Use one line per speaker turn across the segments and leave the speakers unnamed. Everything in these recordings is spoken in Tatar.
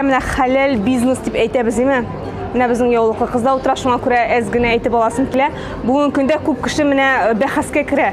Менә хәләл бизнес дип әйтәбез, диме? Менә безнең яулыклы кыз да утыра, шуңа күрә әз генә әйтеп аласым килә. Бүгенге көндә күп кеше менә э, бәхәскә керә.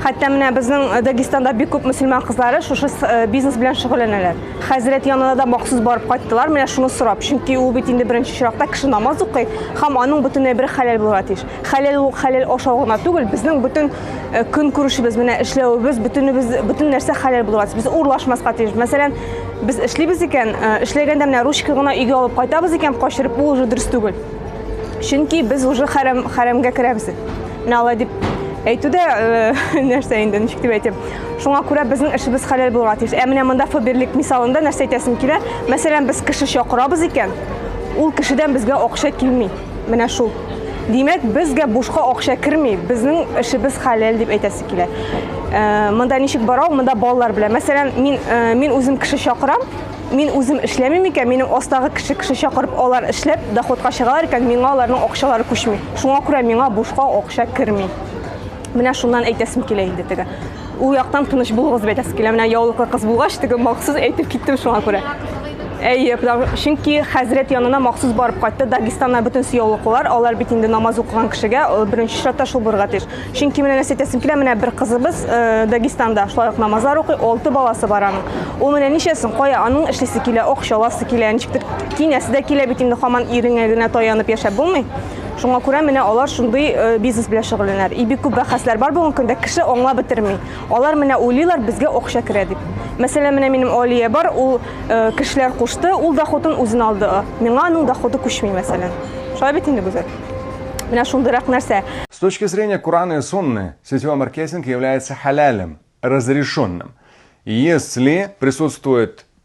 Хәтта менә безнең э, Дагестанда бик күп мөселман кызлары шушы э, бизнес белән шөгыльләнәләр. Хәзрәт янына да махсус барып кайттылар, менә шуны сорап. Чөнки ул бит инде беренче чиракта кеше намаз укый һәм аның бөтен әйбере хәләл булырга тиеш. Хәләл ул хәләл ашау гына түгел, безнең бөтен көнкүрешебез, менә эшләвебез, бөтенебез, бөтен нәрсә хәләл булырга тиеш. Без урлашмаска тиеш. Мәсәлән, Без эшлибез икән, э, эшләгәндә менә ручка гына өйгә алып кайтабыз икән, качырып бу уже дөрес түгел. Чөнки без уже хәрәм хәрәмгә керәбез. Менә алай дип әйтү дә э, нәрсә инде, ничек дип әйтәм. Шуңа күрә безнең эшебез хәләл булырга тиеш. Ә менә монда фаберлик мисалында нәрсә әйтәсем килә? Мәсәлән, без кеше чакырабыз икән, ул кешедән безгә акча килми. Менә шул. Димәк, безгә бушка акча керми, безнең эшебез хәләл дип әйтәсе килә. Э, монда ничек барау, монда балалар белән. Мәсәлән, мин э, мин үзем кеше чакырам, мин үзем эшләмим икән, минем астагы кеше кеше чакырып, алар эшләп доходка чыгалар икән, миңа аларның акчалары күчми. Шуңа күрә миңа бушка акча керми. Менә шуннан әйтәсем килә инде теге. Ул яктан тыныч булыгыз дип әйтәсе килә. Менә яулыклы кыз булгач, теге махсус әйтеп киттем шуңа күрә. Әйе, чөнки хәзрәт янына махсус барып кайтты. Дагестаннан бөтен яулыклылар, алар бит инде намаз укыган кешегә э, беренче чиратта шул булырга тиеш. Чөнки менә нәрсә әйтәсем килә, менә бер кызыбыз э, Дагестанда шулай ук намазлар укый, алты баласы бар аның. Ул менә ничәсен, кая аның эшлисе килә, акчаласы килә, ничектер кинәсе дә килә бит инде хаман иреңә генә таянып яшәп булмый. Шуңа күрә менә алар шундый бизнес белән шөгыльләнәр. И бик күп бәхәсләр бар бүгенге көндә, кеше аңлап бетерми. Алар менә уйлыйлар, безгә акча керә дип. Мәсәлән, менә минем Алия бар, ул кешеләр кушты, ул доходын үзен алды. Миңа аның доходы күчми, мәсәлән. Шулай бит инде, Гүзәл? Менә шундыйрак нәрсә. С точки зрения
Курана и Сунны, сетевой маркетинг является халялем, разрешенным, если присутствует